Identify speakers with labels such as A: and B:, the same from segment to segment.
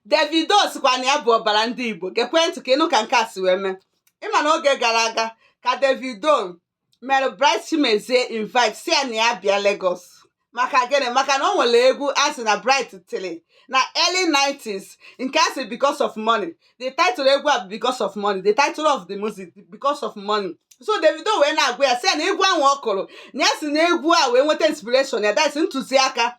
A: Davido sịkwa na ya bụ ọbara ndị Igbo gekwe ntị ka ị nụ ka nke a si wee mee ị ma na oge gara aga ka Davido mere Bright Chimezie invite sị ya na ya bịa Lagos maka gịnị maka na o nwere egwu a sị na Bright tili na early 90s nke a sị because of money the title egwu a bụ because of money the title of the music because of money so Davido wee na-agwa ya sị ya na egwu ahụ ọ kụrụ na ya si na egwu a wee nweta inspiration ya that's ntụziaka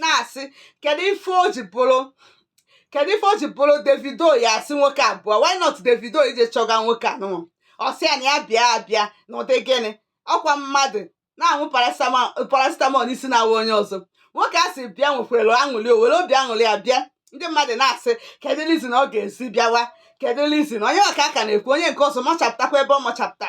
A: na-asị kedu ife o ji bụrụ kedu ife o ji bụrụ Davido ya asị nwoke a bịa why not Davido ije chọga nwoke anụnwa ọ sị ya na ya bịa abịa n'ụdị gịnị ọkwa mmadụ na-aṅụ paracetamol n'isi na-awa onye ọzọ nwoke a sị bịa nwekwere aṅụli o were obi aṅụli ya bịa ndị mmadụ na-asị kedu reason ọ ga-esi bịawa kedu reason onye ọka aka na-ekwu onye nke ọzọ machapụtakwa ebe ọ machapụta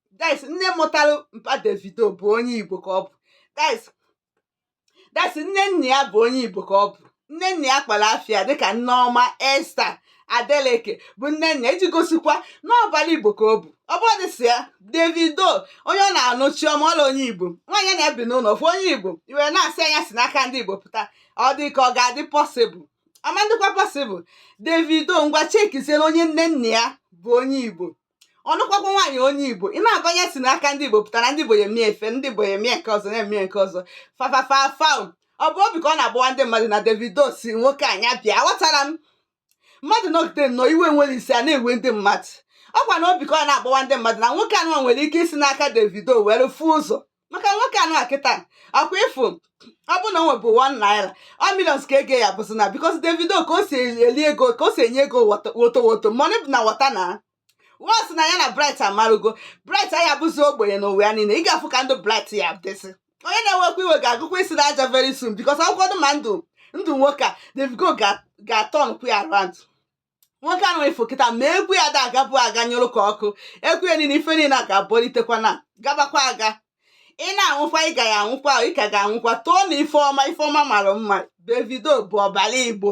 A: guys nne mụtara mpa Davido bụ onye Igbo ka ọ bụ guys guys nne nna ya bụ onye Igbo ka ọ bụ nne nna ya kpọrọ afa ya dịka Nneoma Esther Adeleke bụ nne nna iji gosikwa na ọbara Igbo ka ọ bụ ọ bụrụ dịsị ya Davido onye ọ na-anụ Chioma Rowland onye Igbo nwaanyị na-ebi n'ụlọ ofu onye Igbo i were na-asị nya si n'aka ndị Igbo pụta ọ dị ka ọ ga-adị possible ọ ma-adịkwa possible Davido ngwa chekizie na onye nne nna ya bụ onye Igbo ọ nụkwakwa nwaanyị onye igbo ị na-agwa nya si n'aka ndị igbo pụtara ndị igbo ya emie ife ndị igbo ya emie nke ọzọ na-eme nke ọzọ fafafafa ọ bụ obi ka ọ na-agbawa ndị mmadụ na davido sị nwoke a nya bịa aghọtara m mmadụ nọgide nnọọ iwe nwere isi a na-ewe ndị mmadụ ọkwa na obi ka ọ na-agbawa ndị mmadụ na nwoke anụnwa nwere ike isi n'aka davido were fụ ụzọ maka nwoke anụ a kịta ọkwa ị fụ ọ bụ na o nwebu 1 naira ọ millions ka ego ya bụzi na because Davido ka o si eli ego ka o si enye ego wọta- woto woto money bụ na water na wọs na ya na bright amarugo bright aya abụzi ogbenye n'ụwa ya niile ị ga-afụ ka ndụ bright ya adịzi onye na-ewekwa iwe ga-akụkwa isi n'aja very soon because akwụkwọ dị ma ndụ ndụ nwoke a Davido ga- ga-aturnkwu ya around nwoke anụ ị fụ kịta ma egwu ya da agabu aga nyụrụ ka ọkụ egwu ya niile ife niile a ga-abọlitekwa na-agabakwa aga ị na-anwụkwa ị ga ya anwụkwa ị ka ga-anwụkwa too na ife ọma ife ọma mara mma Davido bụ ọbara igbo